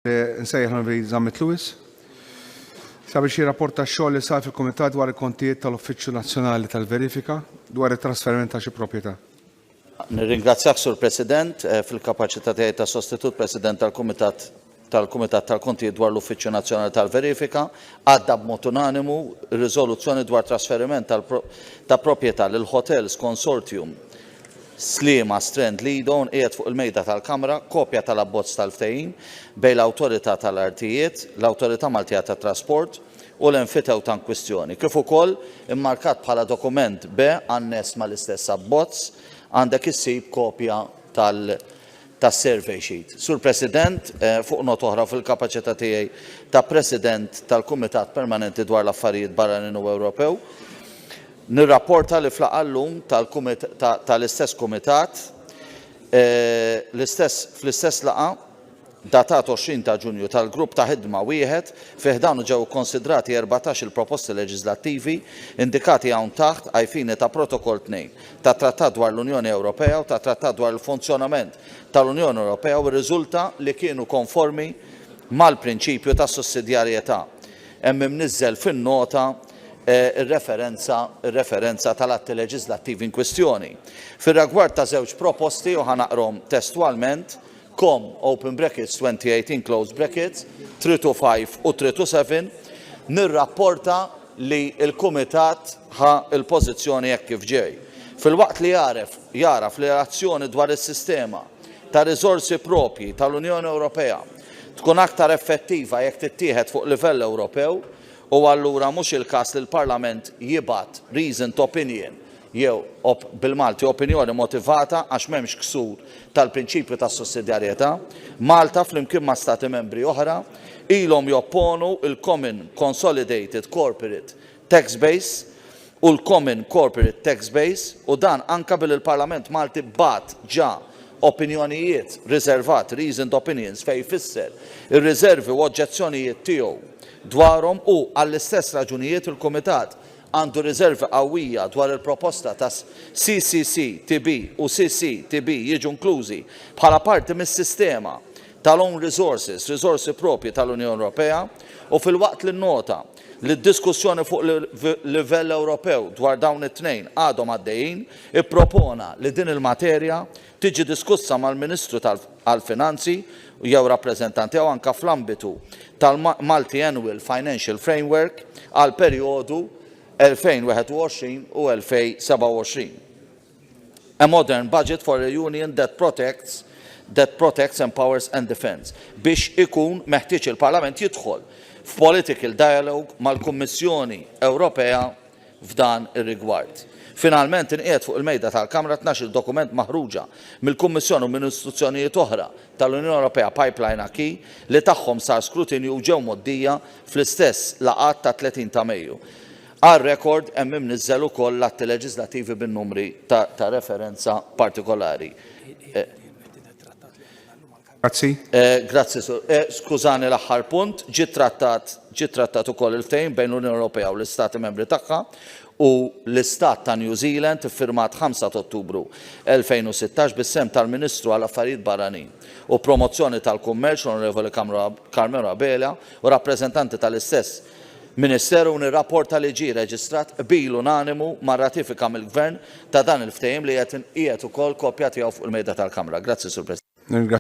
Nsejjaħ l-Onorevoli Zammit Lewis sabiex jirrapporta x-xogħol li sar fil-Kumitat dwar il-Kontijiet tal-Uffiċċju Nazzjonali tal-Verifika dwar it-trasferiment ta' xi proprjetà. Nirringrazzjak, Sur President, fil-kapaċità tiegħi ta' sostitut President tal-Kumitat tal-Kumitat tal-Kontijiet dwar l-Uffiċċju Nazzjonali tal-Verifika, għadda b'mod unanimu r-riżoluzzjoni dwar trasferiment ta' proprjetà lil Hotels Consortium Sliema Strand Lido nqiegħed fuq il-Mejda tal-Kamra kopja tal-abbozz tal-ftehim bejn l-Awtorità tal-Artijiet, l-Awtorità Maltija tat-Trasport u l-enfitewta inkwistjoni, kif ukoll immarkat bħala Dokument B anness mal-istess abbozz, għandek issib kopja tal-, tas-survey sheet. Sur President, fuq nota oħra, fil-kapaċità tiegħi ta' President tal-Kumitat Permanenti dwar l-Affarijiet Barranin u Ewropew, nirrapporta li f'laqgħa llum tal-istess kumitat, fl-istess laqgħa, datat 20 ta' Ġunju, tal-Grupp ta' Ħidma wieħed, fi ħdanu ġew ikkonsidrati erbatax il-proposti leġiżlattivi indikati hawn taħt għajfini ta' Protokoll 2. tat-Trattat dwar l-Unjoni Ewropea u tat-Trattat dwar il-Funzjonament tal-Unjoni Ewropea u rriżulta li kienu konformi mal-prinċipju ta' sussidjarjetà. Hemm imniżżel fin-nota r-referenza r-referenza tal-atti leġiżlattivi inkwistjoni. Fir-ragward ta' żewġ proposti, u ħa naqrahom testwalment, com, open brackets 2018 close brackets, 325 u 327, nirrapporta li l-Kumitat ħa l-pożizzjoni hekk kif ġej. Filwaqt li jagħref jagħraf li l-azzjoni dwar is-sistema ta' riżorsi propji tal-Unjoni Ewropea tkun aktar effettiva jekk tittieħed fuq livell Ewropew u allura mhux il-każ li l-Parlament jibgħat reasoned opinion jew, bil-Malti, opinjoni motivata għax m'hemmx ksur tal-prinċipju tas-sussidjarjetà, Malta, flimkien ma' Stati Membri oħra, ilhom jopponu l-Common Consolidated Corporate Tax Base u l-Common Corporate Tax Base u dan anke billi l-Parlament Malti bagħat ġa opinjonijiet riservat, reasoned opinions, fejn fisser ir-riservi u oġġezzjonijiet tiegħu dwarhom u, għall-istess raġunijiet, il-Kumitat għandu riżervi qawwija dwar il-proposta ta' CCCTB u CCTB jiġu inklużi bħala parti mis-sistema tal-own resources, riżorsi proprji tal-Unjoni Ewropea, u filwaqt li nnota li d-diskussjoni fuq livell Ewropew dwar dawn it-tnejn għadhom għaddejjin, ippropona li din il-materja tiġi diskussa mal-Ministru għall-Finanzi jew rappreżentant tiegħu anke fl-ambitu tal-Multi-Annual Financial Framework għall-perjodu 2021 u 2027. A modern budget for a Union that protects, that protects, empowers and defends biex ikun meħtieġ il-Parlament jidħol f'political dialogue mal-Kummissjoni Ewropea f'dan ir-rigward. Finalment inqiegħed fuq il-mejda tal-Kamra tnax-il dokument maħruġa mill-Kummissjoni u minn istituzzjonijiet oħra tal-Unjoni Ewropea Pipeline Acquis li tagħhom sar skrutinju u ġew mgħoddija fl-istess laqgħat tat-30 ta' Mejju. Għal rekord hemm imniżżel ukoll l-atti leġiżlattivi bin-numri ta' referenza partikolari. Grazzi. Eh, grazzi, Sur. Eh, skużani l-aħħar punt, ġi trattat, ġi trattat ukoll il-ftehim bejn l-Unjoni Ewropea u l-Istati Membri tagħha u l-Istat ta' New Zealand iffirmat 5 ta' Ottubru 2016 bis-sem tal-Ministru għal Affarijiet Barranin u Promozzjoni tal-Kummerċ Onorevoli Carmelo Abela u rappreżentanti tal-istess Ministeru nirrapporta li ġie reġistrat qbil unanimu ma' ratifika mill-Gvern ta' dan il-ftehim li qed inqiegħed ukoll kopja tiegħu fuq il-mejda tal-Kamra. Grazzi, Sur President.